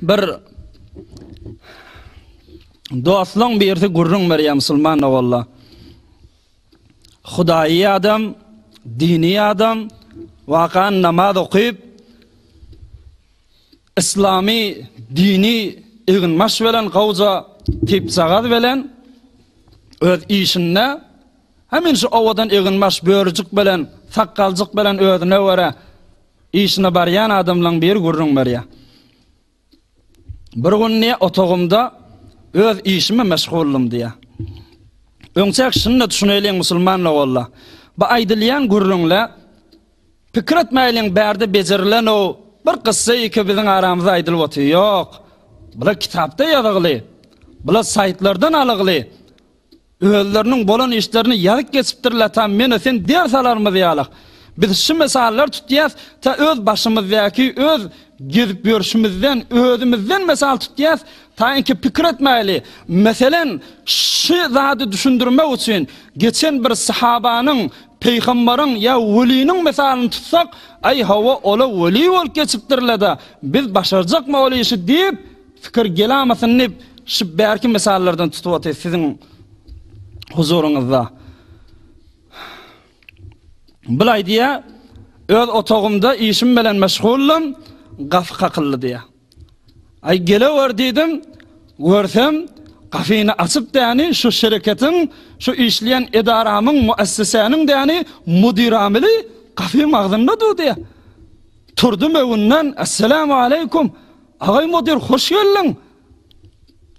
Bir dostlaň birisi gürrüň berýär musulman ogalla. Hudaýy adam, dini adam, wakan namaz okyp, islami dini eginbaş bilen gowja tipsagaz bilen öz işinde hemen şu owadan eginbaş börüjik bilen sakgalcık bilen özüne göre Işine barýan adamlaň biri gürrüň berýär. Bir gün diýýär, otagymda öz işime meşguldym diýýär. Öňçäk şunda düşüneýliň musulman logolla. Bu aýdylýan gürrüňle pikir etmäýliň bärde bejerilen-ow bir kyssa ýeke biziň aramyzda aýdylyp otyr. Ýok. Bular kitapda ýazygly. Bular saýtlardan alygly. Özleriniň bolan işlerini ýazyp geçipdirler ta menä sen ders alarymyz ýalak. Biz şu mysallar tutýas ta öz başymyzdaky öz gezip ýörşümizden özümizden mysal tutýas taýynky pikir etmäýli. Meselen, şu zady düşündirmek üçin geçen bir sahabanyň, pygamberiň ýa weliniň mysalyny tutsak, aý hawa ola weli bolup geçipdirleda biz başarjakmy ol işi diýip, Pikir gelamasyny şu bärki mysallardan tutup otyr siziň huzuryňyzda. Bulaý diýä, öz otagymda işim bilen meşguldym, gafy kakyldy diýä. Aý gelewer diýdim, görsem gafyny açyp däni şu şereketiň, şu işleýän edaramyň, muessesäniň däni mudyr amili gafy magzynda dur diýä. Turdum öwünden, Assalamu aleýkum. Agaý mudyr hoş geldiň.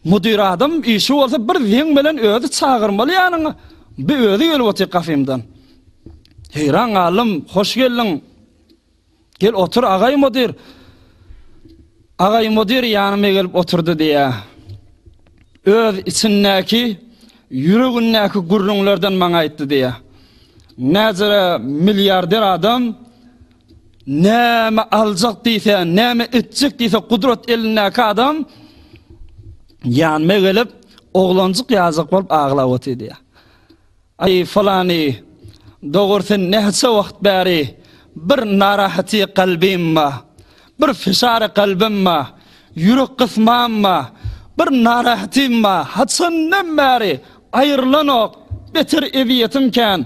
Mudyr adam işi bolsa bir zeň bilen özi çagyrmaly ýanyňa. Bi özi gelip otyr kafemdan. Heýran galdym, hoş geldiň. Gel otur agaý mudyr. Agaý mudyr ýanyma gelip oturdy diýä. Öz içindäki ýüregindäki gürrüňlerden maňa aýtdy diýä. Näzire milliarder adam Näme aljak diýse, näme etjek diýse gudrat elindäki adam ýanyma gelip, oglanjyk ýazak bolup aglap otyrdy. Aý, falany, dogur sen näçe wagt bäri bir narahaty kalbym ma, bir fişary kalbym ma, ýürek gysmam ma, bir narahatym ma, haçandan bäri aýrylanok, beter eziýetim kän.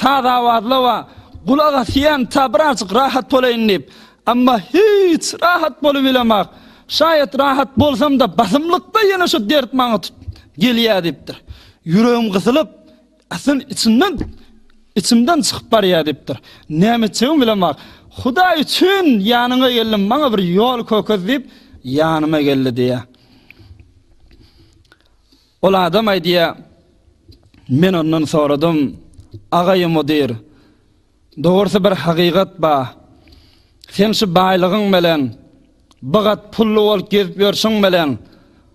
Sazawazlawa gulak asýan ta birazjyk rahat bolaýyn diýip. Emma hiç rahat bolubilemak. Şaýat rahat bolsam-da basymlykda ýene şu dert maňa tut gelýär diýipdir. Ýüregim gysylyp, asyl içimden içimden çykyp barýar diýipdir. Näme etjegimi bilemak. Hudaý üçin ýanyňa geldim, maňa bir ýol kökez diýip ýanyma geldi diýýär. Ol adam aýdýa, Men ondan soradym, Agaý mudir, dogrusy bir hakygat ba, sen şu baýlygyň bilen, bu gat pully bolup gezip ýörşüň bilen,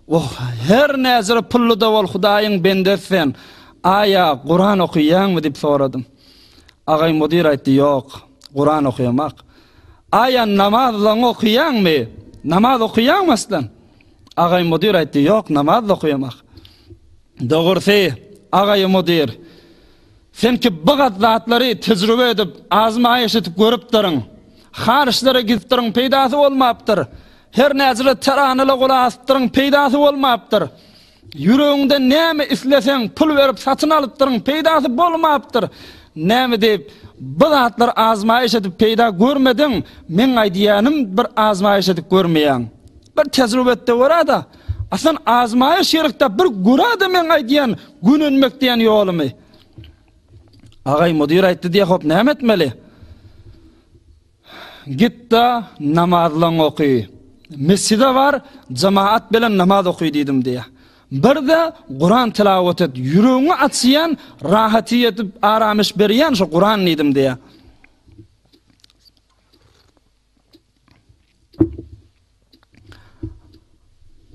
oh, her näjir pully-da bol Hudaýyň bendesi sen, aýa, Kuran okyýaňmy diýip soradym. Agaý mudir aýtdy, Ýok, Kuran okýamak. Aýa, namaz-laň okyýaňmy? Namaz okyýaňmy aslan? Agaý mudyr aýtdy, Ýok, namaz-da okaýamak. Dogrusy, agaý mudyr, sen ki bigat zatlary tejribe edip, azmaýyş edip görüpdirin. Har işlere gidipdirin, peýdasy bolmapdyr. Her näçe teranala gulak asypdyryň, peýdasy bolmapdyr. Ýüregiňden näme isleseň, pul berip satyn alypdyryň, peýdasy bolmapdyr. Näme diýip, bu zatlar azmaýyş edip peýda görmediň, meň aýdýanym bir azmaýyş edip görmeýäň. Bir tejrübetde görada, aslan azmaýyş ýerikde bir görada meň aýdýan gönenmek diýen ýolumy. Agaý mudir aýtdy diýe hop näme etmeli? Gitda namazlaň oky. Mesjide bar, jemaat bilen namaz oky diýdim diýe. Birde Kur'an tilavet et, ýüregiňi açýan, rahaty ýetip, aramyş berýän şu Kur'an diýdim diýe.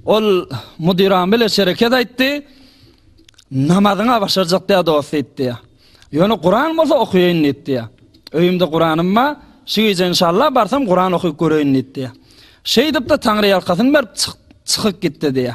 Ol müdiran bile şereket aýtdy. Namazyňa başarjak diýä dost aýtdy. Ýöne Kuran bolsa okuýaýyn diýdi. Öýümde Kuranym bar. Şu gije inşallah barsam Kuran okup göreýin diýdi. Şeýdip-de Taňry ýalkasyn berip çykyp gitdi diýä.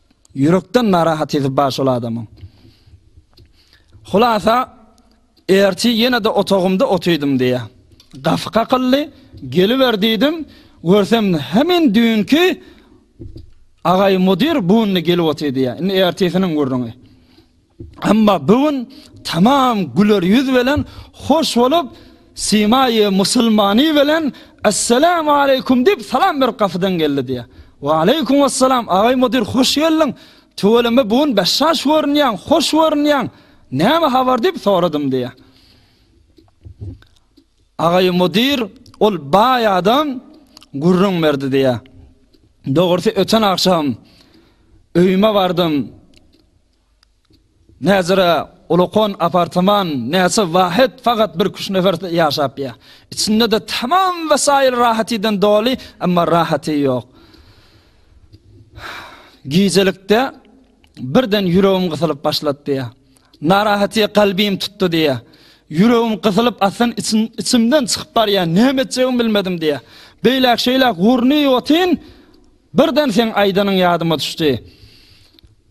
Ýürekden narahatyzy bar şol adamyň. Hulasa, erti ýene-de otagymda otydym diýýär. Gapy kakyldy, geliber diýdim, görsem hemin düýnki Agaý mudir bu günde gelip otyr diýýär. Indi ertisiniň gürrüňi. Emma bu gün tamam güler ýüz bilen hoş bolup, Simaýy musulmany bilen Esselamu aleýkum diýip salam berip gapydan geldi diýýär. Wa aleýkum assalam, agaý mudir hoş geldiň. Tüweleme bu gün beşaş görünýäň, hoş görünýäň. Näme habar diýip soradym diýýär. Agaý mudir ol baý adam gürrüň berdi diýýär. Dogrusy öten agşam öýüme bardym. Näzire Ulukon apartaman näçe wahet fagat bir küç nefer ýaşap ýa. Içinde de tamam wesaýyl rahatydan doly emma rahaty ýok. Gijelikde birden ýüregim gysylyp başlatdy ýa. Narahaty kalbym tutdy diýä. Ýüregim gysylyp asyn içim içimden çykyp barýa näme etjegimi bilmedim diýä. Beýläk şeýläk urny otyn birden sen aýdanyň ýadyma düşdi.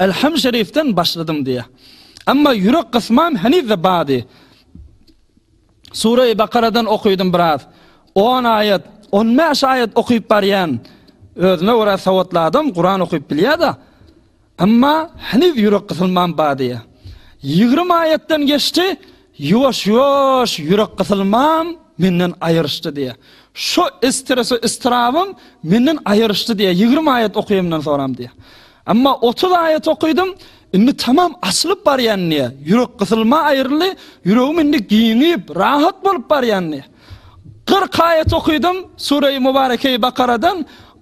Elham şerifden başladym diýýär. Emma ýürek gysmam heniz-de bardy. Sure-i Bakaradan okydym biraz. 10 aýat, 15 aýat okyp barýan. Özüme görä sowatly adam Kuran okyp bilýär-de. Emma heniz ýürek gysmam bardy. 20 aýatdan geçdi, Ýuwaş-ýuwaş ýürek gysylmam menden aýryşdy diýýär. Şo estres-u estrabym menden aýryşdy diýýär, ýigrimi aýat okaýanymdan soňam diýýär. Emma otuz aýat okadym, indi tamam açylyp barýan diýýär. Ýürek gysylma aýryldy, ýüregim indi giňip, rahat bolup barýan diýýär. Kyrk aýat okadym Sureýi Mubarekeýi Bakaradan,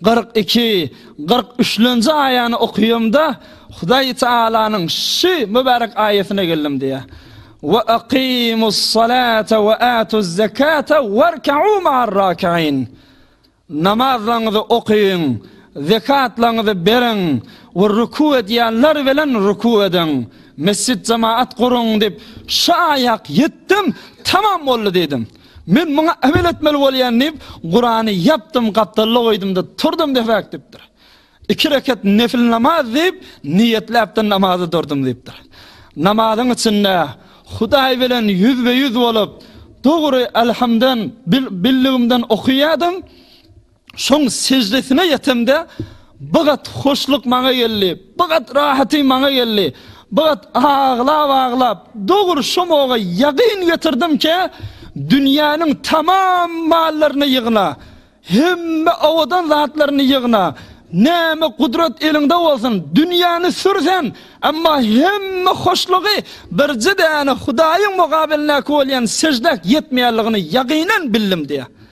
Kyrk iki, kyrk üçlenji aýany okaýamda, Hudaý Tagalanyň şu mübärek aýatyna geldim diýýär. Wa aqimus salata wa atuz zekata warka'u ma'ar raki'in. Namazlaryňyzy okaýyň, zekatlaryňyzy beriň we ruku edýänler bilen ruku ediň. Mesjit jemaat guruň diýip, şu aýak ýetdim, tamam boldy diýdim. Men muňa emel etmeli bolýan diýip, Kurany ýapdym, gapdalda goýdum-da, turdum debäk diýipdir. Iki rekat nefil namaz diýip, niýetläp-de namaza durdum diýipdir. Namazyň içinde Hudaý bilen ýüzbe-ýüz bolup, dogry, Alhamdan, bildigimden okaýardym. Soň seždesine ýetemde, Bigat hoşluk maňa geldi, bigat rahaty maňa geldi. Bigat aglap-aglap, Dogry şomoga ýagyn getirdimkä, dünýäniň tamam mallaryny ýygna, hemme owadan zatlaryny ýygna, näme gudrat eliňde bolsun, dünýäni sür sen, emma hemme hoşlugy birje däne Hudaýyň mukabilindäki bolýan seždäk ýetmeýänligini ýagynan bildim diýýär.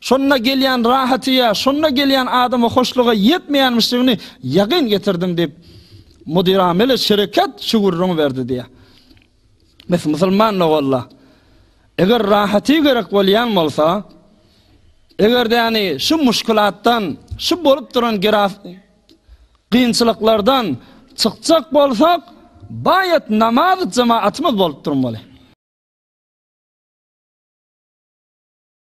Şonda gelýän rahaty ýa şonda gelýän adama hoşluga ýetmeýänmişligini ýakyn getirdim diýip, Mudirameli şerekat şu gürrüňi berdi diýýär. Mes musulman doganlar, eger rahaty gerek bolýan bolsa, eger-de ýani şu muşkilatdan, şu bolup duran geraf kynçylyklardan çykjak bolsak, baýat namaz jemaatymyz bolup durmaly.